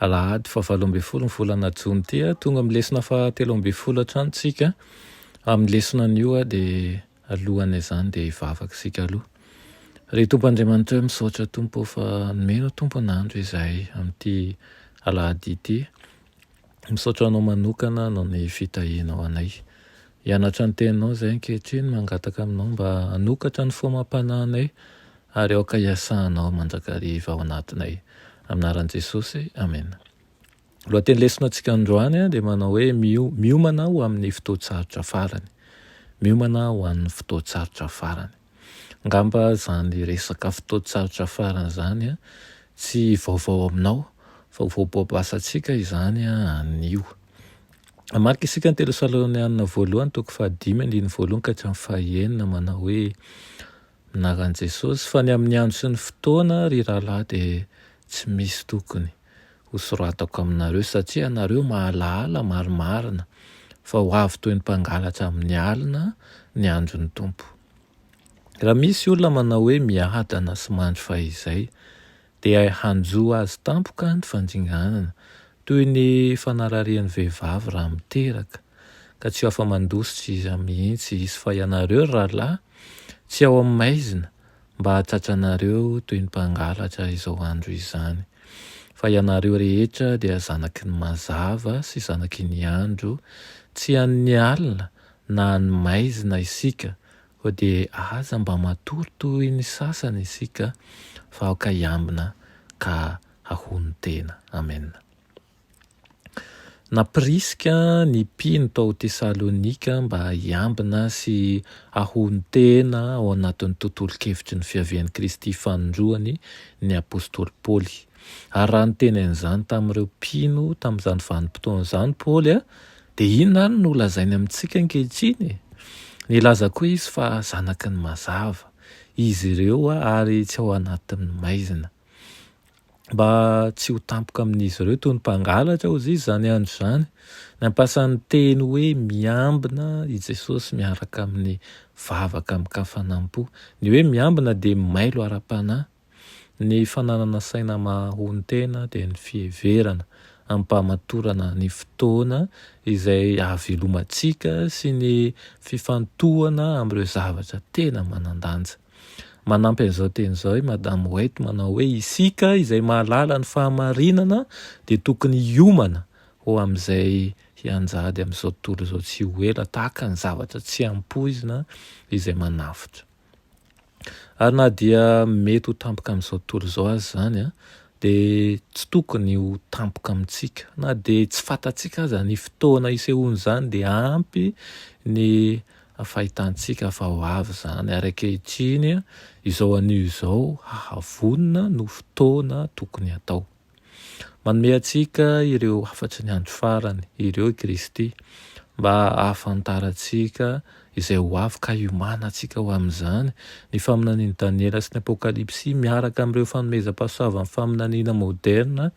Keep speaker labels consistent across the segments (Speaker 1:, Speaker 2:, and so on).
Speaker 1: Alahady faha valo ambin'ny folo ny volana jona ity a, tonga amin'ny lesona faha telo ambin'ny folo hatrany tsika, amin'ny lesona anio a dia alohan' izany dia hivavaka isika aloha. Ry Tompo Andriamanitra o, misaotra Tompo o fa nomena tompon'andro izahay amin'ity alahady ity, misaotra Anao manokana noho ny fitahianao anay. Hianatra ny Teninao izahay ankehitriny, mangataka Aminao mba hanokatra ny foamam-panahinay ary aoka hiasanao mandrakariva ao anatinay. Amin'ny anaran'i Jesosy, amena. Ny lohateny lesona antsika androany dia manao hoe Miomana ho amin'ny fotoan-tsarotra farany. Miomana ho an'ny fotoan-tsarotra farany. Angamba izany resaka fotoan-tsarotra farany izany tsy vaovao aminao fa vao baobasantsika izany anio. Hamaky isika ny Tesalônianina voalohany toko fahadimy andininy voalohany ka hatramin'ny fahenina manao hoe, Minaran'i Jesosy fa ny amin'ny andro sy ny fotoana, ry rahalahy, dia tsy misy tokony. ho soratako aminareo, satria ianareo mahalahala marimarina fa ho avy toy ny mpangalatra amin'ny alina ny andron'ny Tompo. Raha misy olona manao hoe miadana sy mandry fahizay, dia hanjo azy tampoka ny fandringanana, toy ny fanararian'ny vehivavy raha miteraka, ka tsy ho afa-mandositra iza mihitsy izy, fa ianareo ry rahalahy, tsy ao amin'ny maizina, mba hahatsatsanareo toy ny mpangalatra izao andro izany, fa ianareo rehetra dia zanaky ny mazava sy zanaky ny andro, tsy an' ny alina na an' ny maizina isika, koa dia aza mba matory toy ny sasany isika, fa aoka hiambina ka hahonon-tena. Amena. Nampirisika ny mpino tao Tesalonika mba hiambina sy hahonon-tena ao anatin'ny tontolon-kevitry ny fiavian'i Kristy fanindroany ny apostoly Paoly. Ary raha niteny an'izany tamin'ireo mpino tamin'izany vanim-potoana izany Paoly, dia inona àry no lazainy amintsika ankehitriny? Nilaza koa izy fa zanaky ny mazava izy ireo ary tsy ao anatin'ny maizina. mba tsy ho tampoka amin'izy ireo toy ny mpangalatra ozy izany andro izany. Nampiasa ny teny hoe miambina i Jesosy miaraka amin'ny vavaka amin-kafanam-po. Ny hoe miambina dia mailo ara-panahy. Ny fananana saina mahahonon-tena dia ny fiheverana amim-pahamatorana ny fotoana izay hahavelomantsika sy ny fifantohana amin'ireo zavatra tena manan-danja. Manampy an'izao teny izao i Madame White manao hoe, Isika izay mahalala ny fahamarinana dia tokony hiomana ho amin'izay hianjady amin'izao tontolo izao tsy ho ela tahaka ny zavatra tsy ampoizina izay manavotra. Ary na dia mety ho tampoka amin'izao tontolo izao aza izany, dia tsy tokony ho tampoka amintsika. Na dia tsy fantatsika aza ny fotoana hisehoan'izany, dia ampy ny Fahitantsika fa ho avy izany, ary ankehitriny, izao anio izao, hahavonona no fotoana tokony hatao. Manome antsika ireo hafatry ny andro farany ireo i Kristy, mba hahafantarantsika izay ho avy ka hiomanantsika ho amin'izany. Ny faminanian'i Daniela sy ny Apokalypsy miaraka amin'ireo fanomezam-pahasoavan'ny faminaniana moderina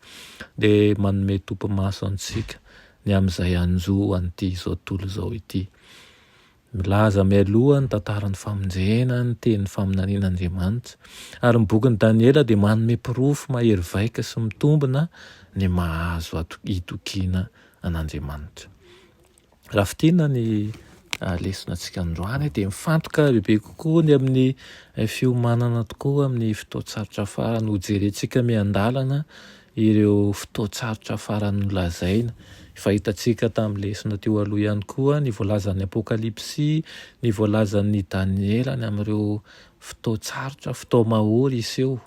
Speaker 1: dia manome topimaso antsika ny amin'izay hanjo an'ity izao tontolo izao ity. Milaza mialoha ny tantaran'ny famonjena ny teny faminanian'Andriamanitra, ary ny bokin'i Daniela dia manome porofo mahery vaika sy mitombina ny maha-azo itokiana an'Andriamanitra. Raha fintinina ny lesonantsika androany dia mifantoka bebe kokoa ny amin'ny fiomanana tokoa amin'ny fotoan-tsarotra farany. Hojerentsika miandalana Ireo fotoan-tsarotra farany nolazaina. Efa hitantsika tamin'ny lesona teo aloha ihany koa ny voalazan'ny Apokalypsy, ny voalazan'i Daniela ny amin'ireo fotoan-tsarotra, fotoam-mahory hiseho.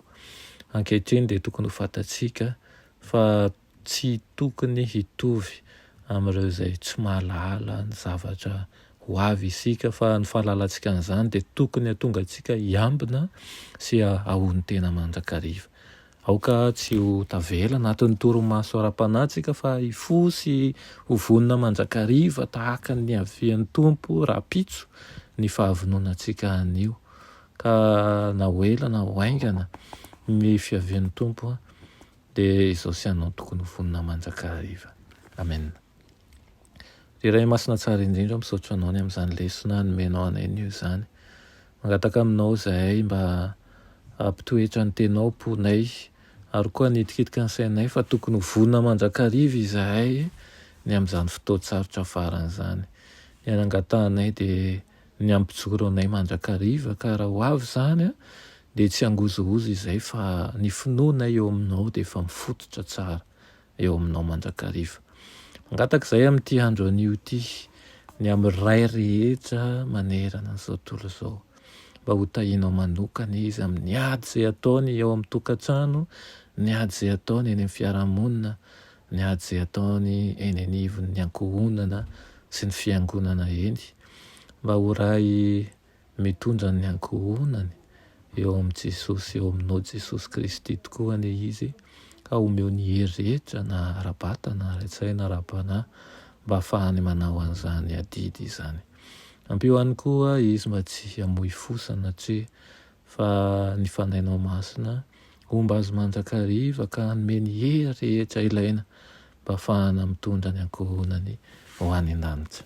Speaker 1: Ankehitriny dia tokony ho fantatsika fa tsy tokony hitovy amin'ireo izay tsy mahalala ny zavatra ho avy isika, fa ny fahalalantsika an'izany dia tokony hahatonga antsika hiambina sy hahahonon-tena mandrakariva. Aoka tsy ho tavela anatin'ny torimaso ara-panahy isika fa hifoha sy ho vonona mandrakariva tahaka ny niavian'ny Tompo rahampitso ny fahavononantsika anio. Ka na ho ela na ho haingana ny fiavian'ny Tompo dia izao sy ianao tokony ho vonona mandrakariva. Amena. Ry Ray Masina Tsara indrindra, misaotra Anao ny amin'izany lesona nomenao anay anio izany. Mangataka Aminao izahay mba hampitoetra ny Teninao am-ponay, ary koa hanitikitika ny sainay fa tokony ho vonona mandrakariva izahay ny amin'izany fotoan-tsarotra farany izany. Ny anangatahanay dia ny hampijoro anay mandrakariva, ka raha ho avy izany dia tsy hangozohozo izahay fa ny finoanay eo Aminao dia efa mifototra tsara. eo aminao mandrakariva. Mangataka izay amin'ity andro anio ity, ny amin'ny Ray rehetra manerana an'izao tontolo izao, mba ho tahinao manokana izy amin'ny ady izay ataony eo amin'ny tokantrano, ny ady izay ataony eny amin'ny fiarahamonina, ny ady izay ataony eny anivon'ny ankohonana sy ny fiangonana eny, mba ho Ray Mitondra ny ankohonany eo amin'i Jesosy sy eo aminao Jesosy Kristy tokoa anie Izy ka omeo ny hery rehetra na ara-batana na ara-tsaina na ara-panahy mba hahafahany manao an'izany adidy izany. Ampio ihany koa Izy mba tsy hamoy fo sanatria fa ny Fanahinao Masina homba azy mandrakariva ka hanome ny hery rehetra ilaina mba hahafahana mitondra ny ankohonany ho any an-danitra.